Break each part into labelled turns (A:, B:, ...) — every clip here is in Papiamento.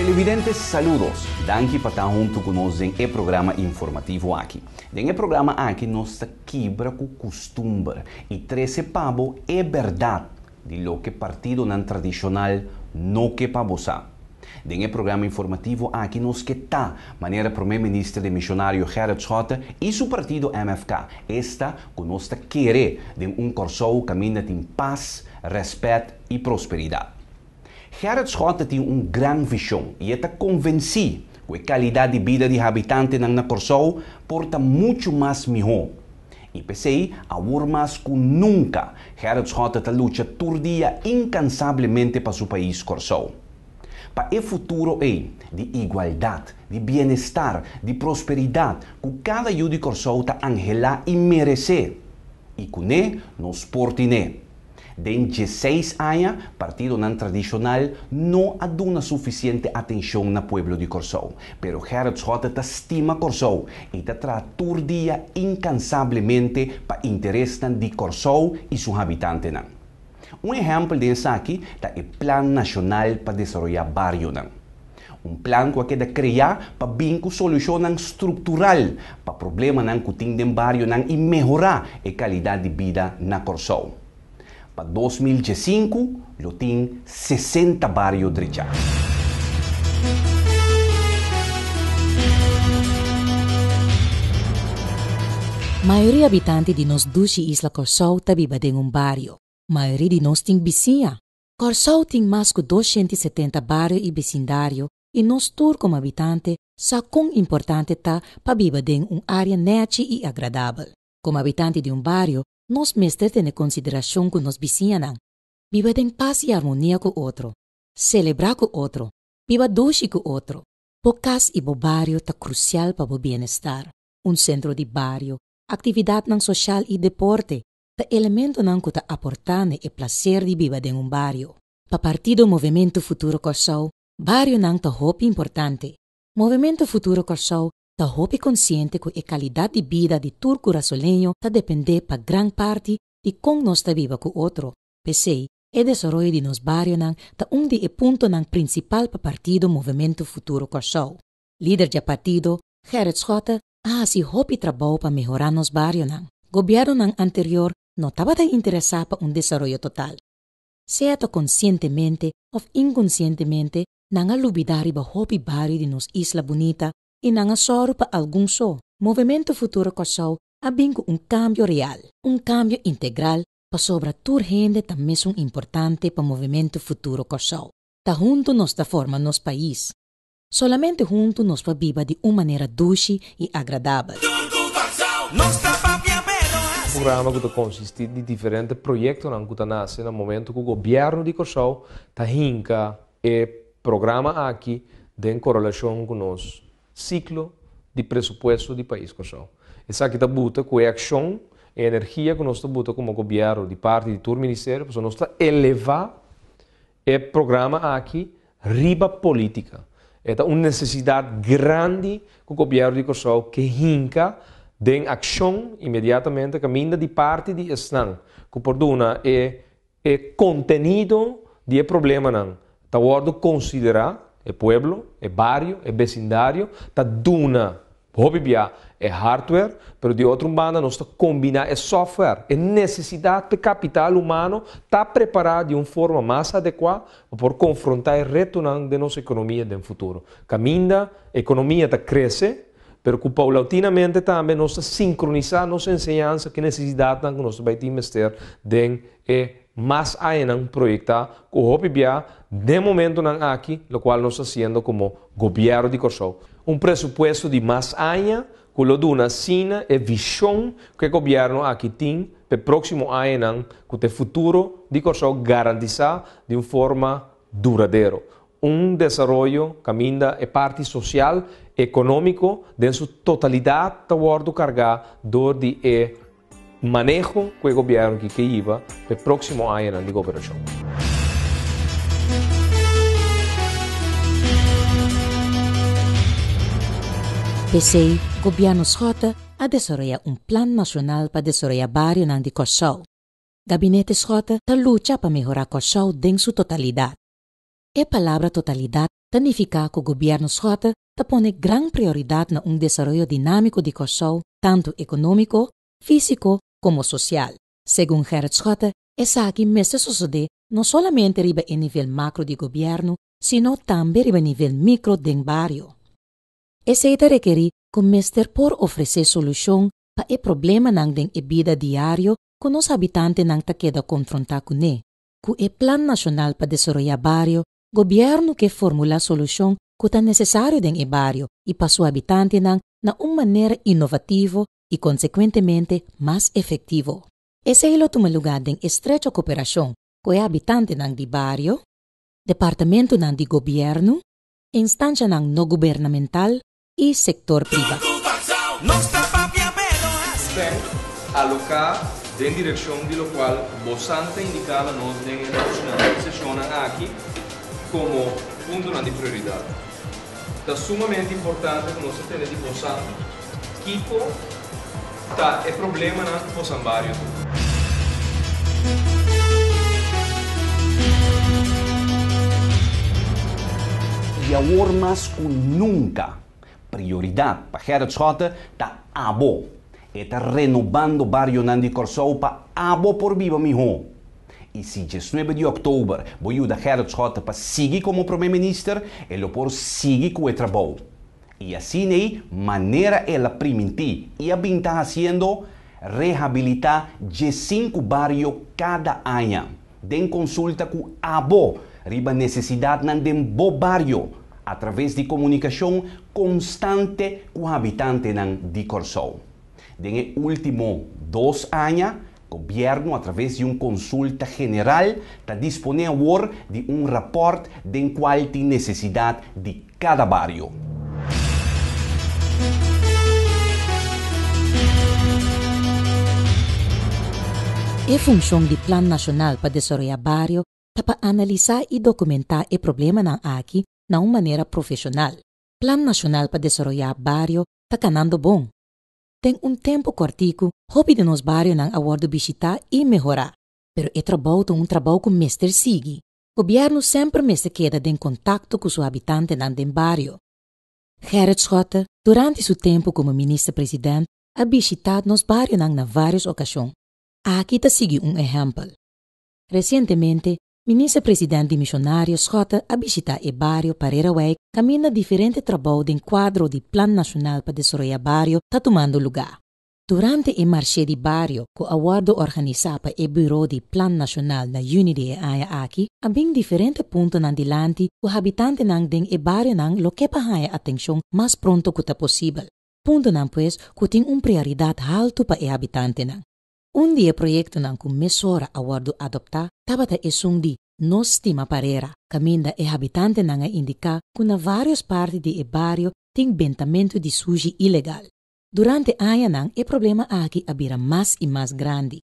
A: Televidentes saludos! Danki pa ta huntu ku nos den e programa informativo aki. Den e programa aki nos ta kibra ku kustumber i trese pa bo e bèrdat di loke partidonan tradishonal no ke pa bosa. Den e programa informativo aki nos ke ta manera Prome Minister den Mishonario Gerrit Schotte i su partido MFK esta ku nos ta kere den un Kòrsou kaminda tin pas, rèspèt i prosperidat. Gerrit Schotte tin un gran vishon i e ta konvensí ku e kalidat di bida di habitantenan na Kòrsou por ta muchu mas mihó. I p'esei, awor mas ku nunka, Gerrit Schotte ta lucha tur dia inkansablemente pa su pais Kòrsou. Pa e futuro ei, di igualdat, di bienestar, di prosperidat, ku kada yu di Kòrsou ta anhelá i meresé. I kuné nos por tin'é. Den dieseis aña, partidonan tradishonal no a duna sufisiente atenshon na pueblo di Kòrsou. Pero Gerrit Schotte ta stima Kòrsou i ta traha tur dia inkansablemente pa interesnan di Kòrsou i su habitantenan. Un ehèmpel den esaki ta e Plan Nashonal pa Desaroyá Barionan. Un plan ku a keda kreá pa bin ku solushonnan struktural pa problemanan ku tin den barionan i mehorá e kalidat di bida na Kòrsou. Pa dos mil diesinku lo tin sesenta bario drechá.
B: Mayoria habitanti di nos dushi isla Kòrsou ta biba den un bario. Mayoria di nos tin bisiña. Kòrsou tin mas ku doshiènt i setenta bario i besindario i nos tur komo habitante sa kon importante ta pa biba den un área nèchi i agradabel. Komo habitante di un bario nos mester tene konsiderashon ku nos bisiñanan, biba den pas i armonia ku otro, selebrá ku otro, biba doshi ku otro. Bo kas i bo bario ta krusial pa bo bienestar. Un sentro di bario, aktividatnan soshal i deporte, ta elementonan ku ta aportá na e plaser di biba den un bario. Pa Partido Movimento Futuro Kòrsou, barionan ta hopi importante. Movimento Futuro Kòrsou ta hopi konsiente ku e kalidat di bida di tur kurasoleño ta dependé pa gran parti di kon nos ta biba ku otro. P'esei, e desaroyo di nos barionan ta un di e puntonan prinsipal pa Partido Movimento Futuro Kòrsou. Lider dje partido, Gerrit Schotte, a hasi hopi trabou pa mehorá nos barionan. Gobièrnunan anterior no tabata interesá pa un desaroyo total. Sea ta konsientemente òf inkonsientemente nan a lubidá riba hopi bario di nos isla bunita i nan a sòru pa algun so. Movemento Futuro Kòrsou a bin ku un kambio real, un kambio integral pasobra tur hende ta mesun importante pa Movemento Futuro Kòrsou. Ta huntu nos ta forma nos pais. Solamente huntu nos por biba di un manera dushi i agradabel.
C: Programa ku ta konsistí di diferente proyektonan ku ta nase na momentu ku Gobièrnu di Kòrsou ta hinka e programa aki den korelashon ku nos siklo di presupuesto di pais Kòrsou. Esaki ta buta ku e akshon, e energia ku nos ta buta komo gobièrnu di parti di tur ministerio pasobra nos ta elevá E programa aki riba politica. E ta un necesidad grandi cu Gobierno di Corsou ke hinca den accion inmediatamente caminda di parti di esnan cu por duna e e contenido di e problemanan ta wordo considera, e pueblo, e bario, e becindario ta duna. Hopi bia e hardware, pero di otro un banda nos ta combina e software. E necesidad p'e capital humano ta prepara di un forma mas adecua pa por confronta e retonan den nos economia den futuro. Caminda economia ta crece, pero cu paulautinamente tambe nos ta sincronisa nos enseñansa cu e necesidadnan cu nos ta bay tin mester den e. Mas añanan proyecta cu hopi bia den momentonan aki locual nos ta haciendo como Gobierno di Corsou. Un presupuesto di mas aña cu lo duna asina e vision cu e Gobierno aki tin p'e proximo añanan cu ta e futuro di Corsou garantisa di un forma duradero. Un desaroyo caminda e parti social, economico den su totalidad ta wordo carga door di e. Maneho ku e gobièrnu ki ke yiba pa e próksimo añanan di goberashon.
B: P'esei, Gobièrnu Schotte a desaroyá un Plan Nashonal pa Desaroyá Barionan di Kòrsou. Gabinete Schotte ta lucha pa mehorá Kòrsou den su totalidat. E palabra totalidat ta nifiká ku Gobièrnu Schotte ta pone gran prioridat na un desaroyo dinámiko di Kòrsou tantu ekonómiko, físiko komo sosial. Segun Gerrit Schotte esaki mester sosodé no solamente riba e nivel makro di gobièrnu sino tambe riba nivel mikro den bario. Esei ta rekerí ku mester por ofresé solushon pa e problemanan den e bida diario ku nos habitantenan ta keda konfrontá kuné, ku e Plan Nashonal pa Desaroyá Bario Gobierno ke formula solushon ku ta nesesario den e bario i pa su habitantenan na un manera inovativo i konsekuentemente mas efektivo. Esei lo tuma lugá den estrecho koperashon ku e habitantenan di bario, departamentunan di Gobierno, instanshanan no gubernamental i sektor privá. Spend,
C: Aloká, den direkshon di lokual Bossan ta indiká la nos den e rasonanan i seshonnan aki komo puntonan di prioridat. Ta sumamente importante ku nos ta tende di Bossan kiko. Ta e problemanan cu
A: boso a bario tu. Y awor mas cu nunca, prioridad pa Gerrit Schotte ta abo. E ta renobando barionan di Corsou pa abo por biba miho. Y si diesnuebe di oktober bo yuda Gerrit Schotte pa sigui como Prome Minister, e lo por sigui cu e trabou. I asin'ei manera el a primintí i a bin ta hasiendo, rehabilitá dje sinku bario kada aña, den konsulta ku abo riba nesesidatnan den bo bario, atraves di komunikashon konstante ku habitantenan di Kòrsou. Den e último dos aña Gobierno a traves di un consulta general ta dispone awor di un raport den cual tin necesidad di cada bario.
B: E funcion di Plan Nacional pa Desaroya Bario ta pa analisa y documenta e problemanan aki na un manera profesional. Plan Nacional pa Desaroya Bario ta canando bon. Den un tempu kòrtiku, hopi di nos barionan a wòrdu bishitá i mehorá. Pero e trabou ta un trabou ku mester sigui. Gobièrnu semper mester keda den kontakto ku su habitantenan den bario. Gerrit Schotte, durante su tempu komo Minister President, a bishitá nos barionan na vários okashon. Aki ta sigui un ehèmpel. Resientemente, Minister President di Misionario Schotte a bishita e bario pa Rerewijk kaminda diferente trabou den kuadro di Plan Nashonal pa Desaroya Bario ta tumando lugá. Durante e Marshe di Bario ku a wòrdu organisá pa e Buro di Plan Nashonal na Juni di e aña aki, a bin diferente puntonan dilanti ku habitantenan den e barionan lo ke pa haña atenshon mas pronto ku ta posibel, puntonan pues ku tin un prioridat haltu pa e habitantenan. Un di e proyektonan ku mesora a wòrdu adoptá tabata esun di No Stima Parera, kaminda e habitantenan a indiká ku na vários parti di e bario tin bentamentu di sushi ilegal. Durante añanan e problema aki a bira mas i mas grandi.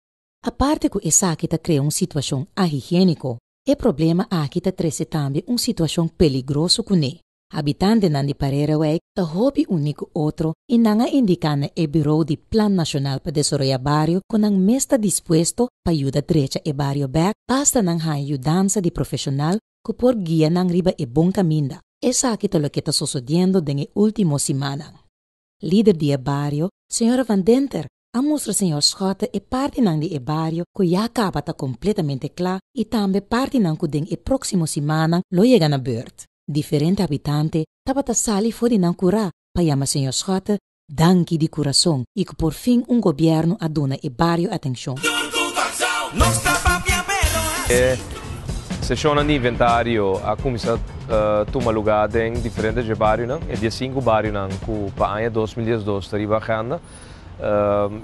B: Aparte ku esaki ta krea un situashon ahigiéniko, e problema aki ta trese tambe un situashon peligroso kuné. Habitantenan di Pareirewijk ta hopi uni ku otro i nan a indiká na e Birou di Plan Nashonal pa Desaroya Bario ku nan mes ta dispuesto pa yuda drecha e bario bèk basta nan haña yudansa di profeshonal ku por guia nan riba e bon kaminda. Esaki ta loke ta sosodiendo den e último simannan. Lider di e bario, señora Van Denter, a mustra señor Schotte e partinan di e bario cu ya caba ta completamente cla y tambe partinan cu den e proximo simannan lo yega na beurt. Diferente habitante tabata sali for di nan cura pa yama señor Schotte danki di curazon y cu por fin un gobierno a duna e bario atencion. E
C: sesionnan di inventario a cuminsa tuma lugar den diferente dje barionan, e diecinku barionan cu pa aña dos mil diesdos ta riba agenda.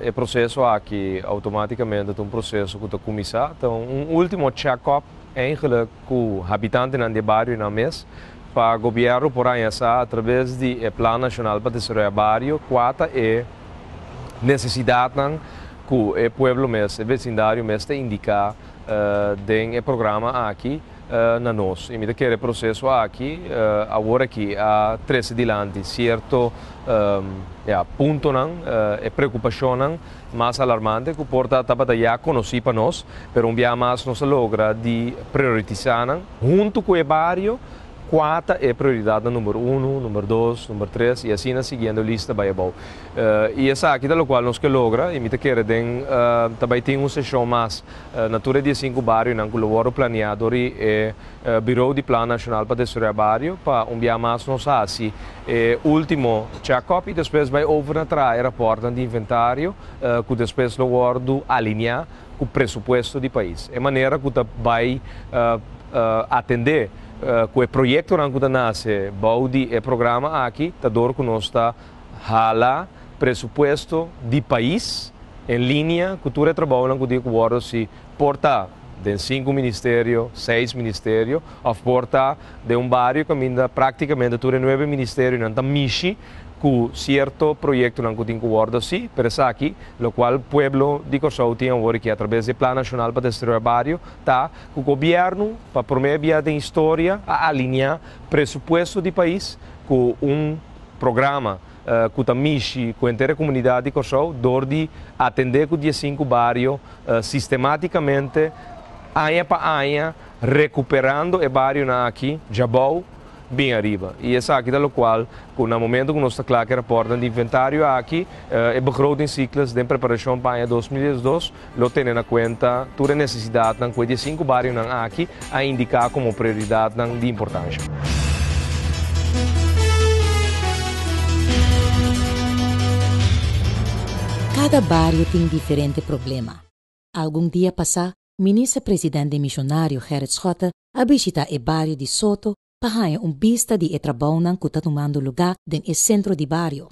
C: E proseso aki automáticamente ta un proseso cu ta cuminsa, ta un último check up eigenlijk cu habitantenan di e barionan mes, pa gobierno por haña sa a traves di e Plan Nacional pa Desaroya Bario cua ta e necesidadnan cu e pueblo mes, e vecindario mes ta indica den e programa aki. na nos. I mi ta kere e proseso aki aworakí a trese dilanti sierto ya puntonan, e preokupashonnan mas alarmante ku por ta tabata ya konosí pa nos, pero un biaha mas nos a logra di prioritisá nan huntu ku e bario kua ta e prioridatnan number unu, number dos, number tres i asina siguiendo e lista bai abou. I esaki ta lokual nos ke logra i mi ta kere den ta bai tin un seshon mas Na tur e diesinku barionan ku lo wòrdu planiá dor di e Birou di Plan Nashonal pa Desaroyá Bario pa un biaha mas nos hasi e último chèkòp i despues bai over na traha e rapòrtnan di inventario ku despues lo wòrdu alineá ku presupuesto di pais. E manera ku ta bai atendé ku e proyektonan ku ta nase bou di e programa aki ta dor ku nos ta. Hala presupuesto di pais en linea cu tur e trabaonan cu tin cu wordo si por ta den sinku ministerio, seis ministerio of por ta den un bario caminda practicamente tur e nuebe ministerionan ta mishi cu cierto proyectonan cu tin cu wordo haci, pero esaki locual pueblo di Corsou tin awor aki atraves di e Plan Nacional pa Destrioe Bario ta cu gobierno pa prome biaha den historia a alinea presupuesto di pais cu un programa ku ta mishi ku henter e komunidat di Kòrsou dor di atendé ku diesinku bario sistematikamente aña pa aña rekuperando e barionan aki dja bou bin ariba i esaki ta lokual ku na momentu ku nos ta kla ku e rapòrtnan di inventario aki e begrotingsikles den preparashon pa aña dos mil diesdos Lo tene na kuenta tur e nesesidatnan ku e diesinku barionan aki a indiká komo prioridatnan di importansha.
B: Kada bario tin diferente problema. Algun dia pasá Minister President den Misionario Gerrit Schotte a bishitá e bario di Soto pa haña un bista di e trabounan ku ta tumando lugá den e sentro di bario.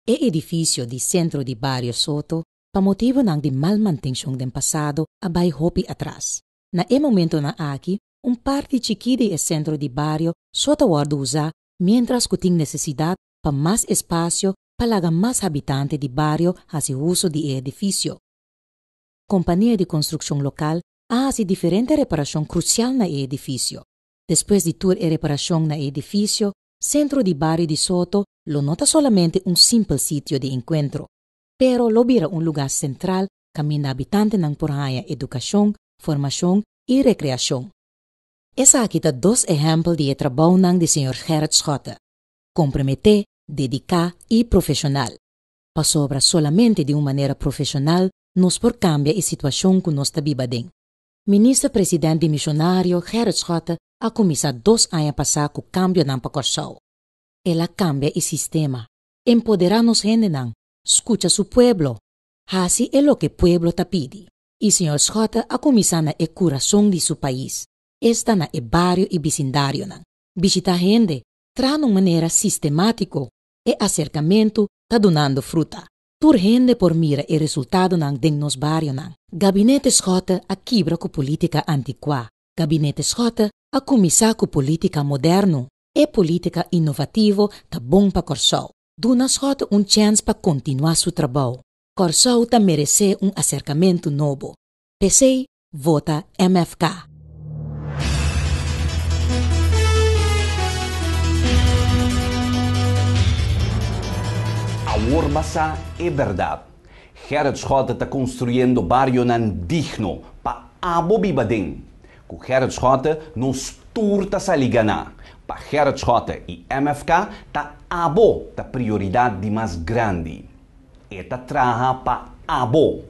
B: E edifisio di Sentro di Bario Soto Pa motibunan di mal mantenshon den pasado a bai hopi atras. Na e momentonan aki un parti chikí di e sentro di bario so ta wòrdu usá miéntras ku tin nesesidat pa mas espasio pa laga mas habitante di bario hasi uso di e edifisio. Kompania di konstrukshon lokal a hasi diferente reparashon krusial na e edifisio. Despues di tur e reparashon na e edifisio, sentro di bario di Soto lo no ta solamente un simpel sitio di enkuentro. pero lo bira un lugá sentral kaminda habitantenan por haña edukashon, formashon i rekreashon. Esaki ta dos ehèmpel di e trabounan di señor Gerrit Schotte, komprometé, dediká i profeshonal, pasobra solamente di un manera profeshonal nos por kambia e situashon ku nos ta biba den. Minister President di Mishonario Gerrit Schotte a kuminsá dos aña pasá ku kambionan pa Kòrsou. El a kambia e sistema, Empodera nos hendenan, skucha su pueblo, hasi e loke pueblo ta pidi. I señor Schotte a kuminsá na e kurason di su pais, esta na e bario i bisindarionan, bishitá hende, trahando un manera sistemátiko. E aserkamentu ta dunando fruta. Tur hende por mira e resultadonan den nos barionan. Gabinete Schotte a kibra ku polítika antikuá. Gabinete Schotte a kuminsá ku polítika moderno. E politica innovativo ta bon pa Corsou. Duna Schotten un chens pa continua su trabou. Corsou ta merece un acercamento nobo. Pesey vota MFK.
A: Awor basa e berdad. Gerrit Schotten ta construyendo barionan digno pa abo biba den. Ku Gerrit Schotte nos tur ta sali ganá. Pa Gerrit Schotte i MFK ta abo ta prioridat di mas grandi. E ta traha pa abo.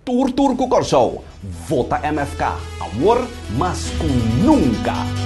A: Tur tur ku Kòrsou vota MFK awor mas ku nunka.